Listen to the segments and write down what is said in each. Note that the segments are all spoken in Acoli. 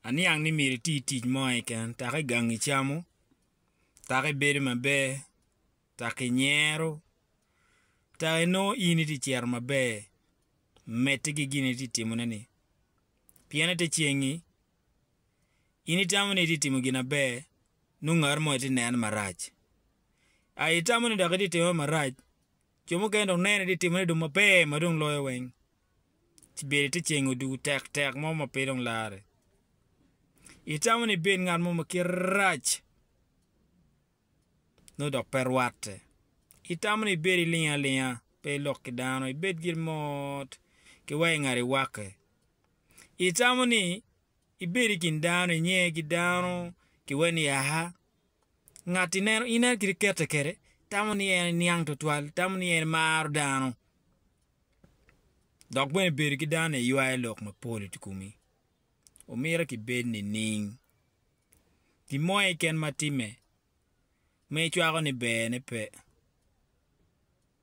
Aniang ni myero iti tic mo keken dok i gang icamo dok ibedo maber dok inyero dok inongo in iti ciro maber medde ki gin ma iti timone ni pien ite cengi in itamo ni iti timo gin maber nongo ngat mo iti neno marac, a itamo ni dok iti timo marac Jo mukene dong nene ni timone dong maber ma dong loyo weng, ci bedo ite ceng odugo tek tek mo ma pe dong larre. Itamo ni ibed ngat mo ma kite rac, nongo dok pe rwatte. Itamo ni ibed iling alinga, pe ilok ki dano, ibed gire mot ki wa ingat iwakke. Itamo ni ibed i kin dano, inge ki dano ki wa ni aha, Ngat ineno ineno kit kete kede tamo ni en niang twatwal tamo ni en maro dano dok bene bedo ki dano ni ywayo lok mapol i kumi omito ki bed nining gin mo keken ma time ma icwako ni ber ne pe.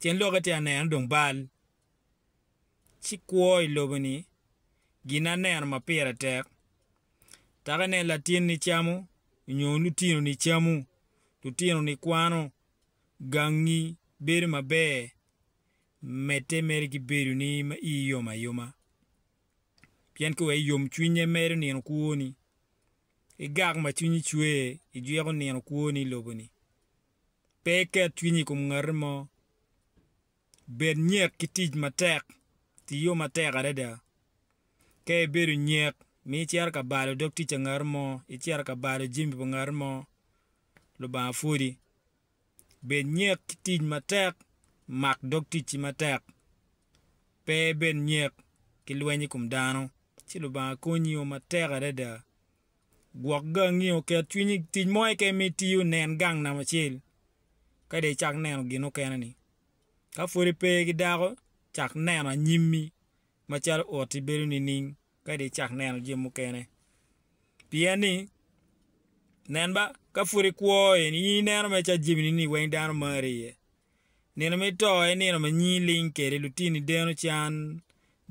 Tyen lokke ti aneno dong bal ci kwo i lobo-ni gin aneno ma pire tek. Taka inen latinni camo nyo lutinoni camo, lutinoni kwano, gangi bedo maber, medde mere ki bedoni ma ii yom ayoma. Pien ka wek iyom cwinye medo nino kwoni, igak ma cwinyi cwer ijwiko nino kwoni i lobo-ni. Pe iket cwinyi i kom ngati mo. Bed nyek ki tic matek. Tiyo matek adada. Ka ibedo nyek ma icito ka balo dog tic pa ngat mo, icito ka balo jami pa ngat mo, Lubanga pwodi. Bed nyek ki tic matek. Mak dog ticci matek. Pe ibed nyek ki lweny i kom dano, ci Lubanga konyi o matek adada. Gwok gangi, oket cwiny i tic mo keken ma itiyo, nen gang namba acel, ka dong icak neno gin mukene-ni. Ka pud ipe ki dako, cak neno anyimmi macalo oti bedo nining, ka dong icak neno jami mukene. Pien ni, nen ba, ka pud ikwo en, in ineno mere calo jamini-ni weng dano mari iye. Nino me to en nino ma nyi ling kede lutini deno can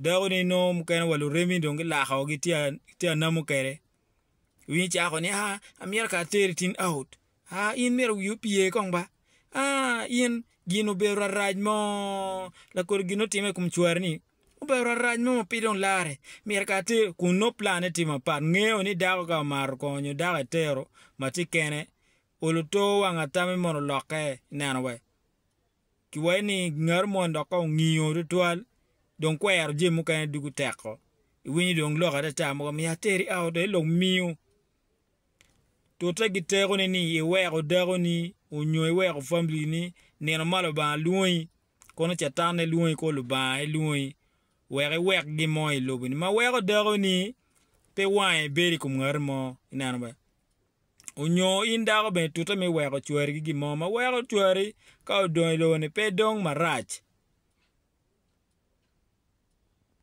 dako ne nongo mukene wa luremi dong gilako gi tye anamo kede winyo cako ni aa amyero ka ateri tin out aa in myero wi opye kong ba aa in gin obedo rarac mo lakodo gin nongo time i kom cware ni obedo rarac mo ma pe dong lare myero ka ateri kun nongo plan ne tye mapat ngeyo ni dako ka omaro kong nyo dako etero ma tye kene Olo tor wang atami mono lokke i neno we ki wayi ni ngari moni dok ka ongingo tutwal dong kwero jami mukene dugu teko iwinyo dong lok atata mogo miyo ateri out aye lok miyo tute gi teko ne ni iweko dako ni onyo iweko family ni nino ma lubanga lwongi kono catan ne lwongi kor lubanga aye lwongi wek iwek gin mo ilobo ni ma weko dako ni pe wange bedo ikom ngari mo ineno be. Onyo in dako bene tute me weko cwari ki gin mo ma weko cwari ka odong i lobo ni pe dong marac.